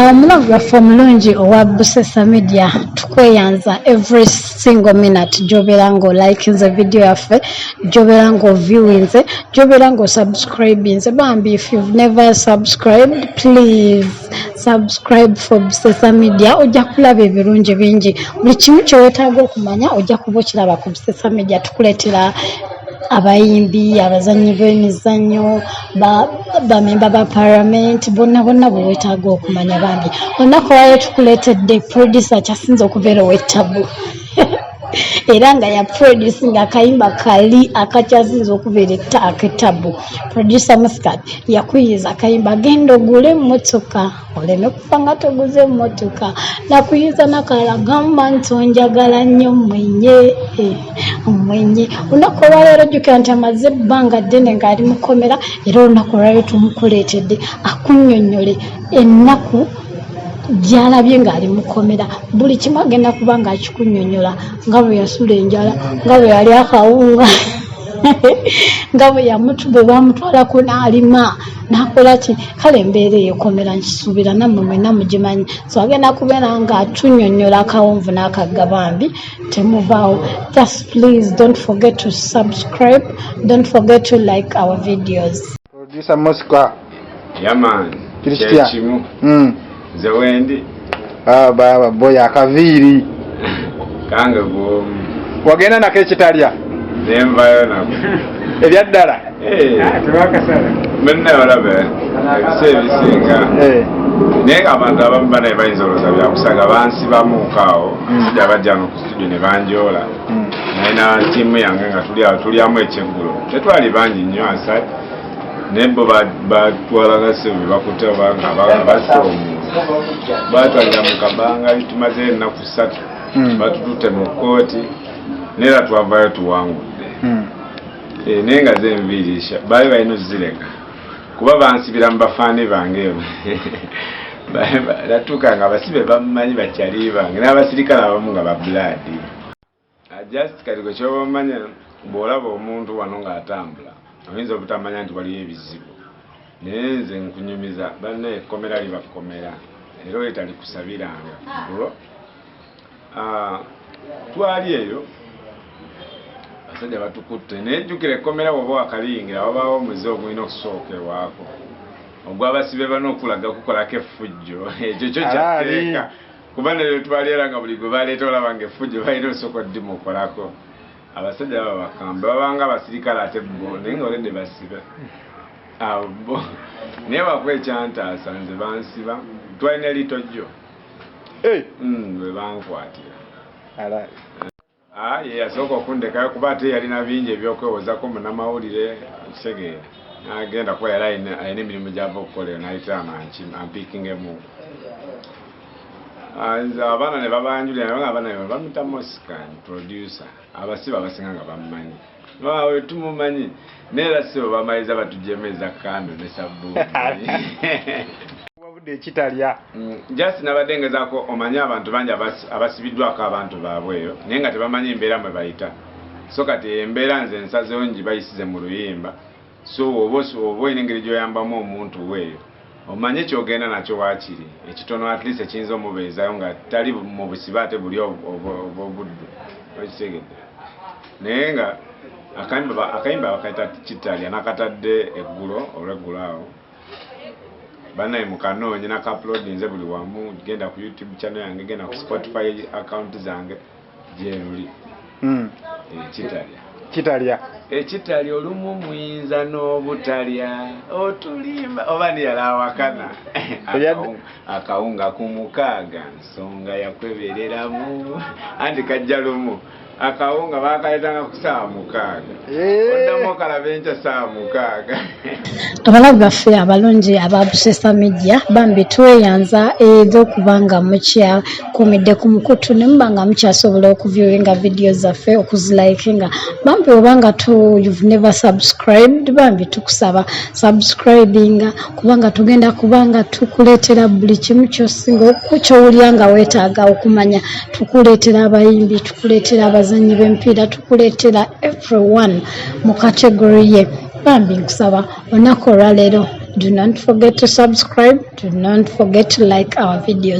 Omulove waffe omulungi owa Busesa Media tukweyanza every single minute gy'obeera ng'olikinze vidiyo yaffe, gy'obeera ng'oviewinze, gy'obeera ng'osubscribinze. Bambi if you've never subscribed please subscribe for Busesa Media ojja kulaba ebirungi bingi. Buli kimu kye weetaaga okumanya ojja kuba okiraba ku Busesa Media tukuleetera abayimbi abazannyi b'emizannyo bamemba ba paramenti bonna bonna bwe wetaaga okumanya bambi olunaku wayo tukuleetedde produsa kyasinze okubeera owettabu era nga ya produce nga akayimba kali akakyasinze okubeera aketabu producer muscat yakuyiza akayimba genda ogule emmotoka oleme kufa nga toguze emmotoka nakuyinza nakalala gamba nti onjagala nnyo mwenye eh, mwenye olunaku olwaleero jjukira nti amaze ebbanga ddene ng'ali mukomera era olunaku olwaleero tumukuleetedde akunyonnyole ennaku gyalabye ng'ali mukomera buli kimu agenda kuba ng'akikunyonyola nga bwe yasula enjala nga bwe yali akawunga nga bwe yamutube bamutwala kunaalima nakola ki kale embeera eyekomera nkisuubira nammwe mwena mugimanyi so agenda kubeera nga atunyonyola akawonvu n'akagga bambi temuvaawo just please don't forget to subscribe don't forget to like our videos producer mosca yaman kiri kitya hmm. nze wendi ah, baba boy akaviiri kange gwomu wagenda nako ekitalya nenvayo nako ebyaddala eh. ah, tebakasala mwenna balabe ebisa ebisinga eh. naye nga abantu abamu banaye bayinza olowooza byakusaga bansibamuuka awo hmm. sija bajja no ku situdio ne banjoola hmm. naye na tiimu yange nga tuli awo tulyamu ekyeggulo tetwali bangi nnyo asat naye bo batwalanga sebe bakuta batwalira mu kabanga tumaze ennaku satu hmm. batututte mu kkooti neera twavayo tuwangudde hmm. eh, naye nga zenviirisha baali balina ozireka kuba bansibira mu bafaani bange emu natuuka nga abasibe bamumanyi bakyali bange n'abasirikale abamu nga babulaadi Just kati gwe kyoba omanya bw'olaba omuntu wano ng'atambula oyinza obutamanya nti waliyo ebizibu naye nze nkunyumiza banna ekkomera liba kkomera era oli talikusabiranga kugulo ah, twali eyo abasajja batukutte naye jjukira ekkomera woba wakaliyingira wabaawo omuze ogulina okusooka ewaako ogwabasibe bana okulaga kukolako effujjo ekyo kyo kyatteeka kuba nayo twalera nga buli gwe baleeta olaba nga effujo balina osooka oddimu okolako abasajja baba bakamba babanga abasirikale ate bo naye nga olede basibe abo bo naye waku ekyantaasa nze bansiba twalina litojjo eh! mm, webankwatira Ah, ye yasooka okundekayo kuba ate yalina bingi ebyokwewoozako munamawulire okitegeera nagenda kuba yali alina emirimu gyava okukola eyo nayitaano ampikingemuku ah, nze abaana ne babanjulira naye abaana bamita moscan producer abasiba abasinga nga bamumanyi Waawe tumumanyi naye era ssebo bamaliza batujemu eza kando ne sabbuuni wabudde ekitalya mm, just nabadde ngezaako omanyi abantu bangi abasibiddwako abantu baabwe eyo naye nga tebamanyi embeera mwe bayita so kati embeera nze nsazewo ngibayisize mu luyimba So woba oba olina engeri gyoyambamu omuntu wo eyo omanyi kyogenda nakyo wakiri ekitono at least ekiyinza omubeezayo nga tali mu busibe ate buli obwobuddu okitegedde naye nga akayimba akayimba bakaita kitalya nakatadde eggulo olweggulo awo banaye mukanoonye naka uploadinze buli wamu genda ku youtube channel yange genda ku spotify account zange gyeruli hmm. ekitalya kitalya ekitalya olumu muyinza n'obutalya otulimba oba niyala awakana akawunga ku mukaaga nsonga yakwebereramu anti kajja lumu akawunga bakaletanga ku saawa mukaaga abalabi baffe abalungi aba busesa media bambi tweyanza eri okuba nga mukyakumidde ku mukutu ne muba nga mukyasobola okuviewinga vidiyo zaffe okuzilayikinga bambi oba nga tu you've never subscribed bambi tukusaba subscribinga kubanga tugenda kuba nga tukuleetera buli kimu kyosinga kyowulira nga weetaaga okumanya tukuleetera abayimbi tukuleetera abazannyi b'emipiira tukuleetera everyone mu category ye bambi nkusaba olunaku olwaleero do not forget to subscribe do not forget to like our videos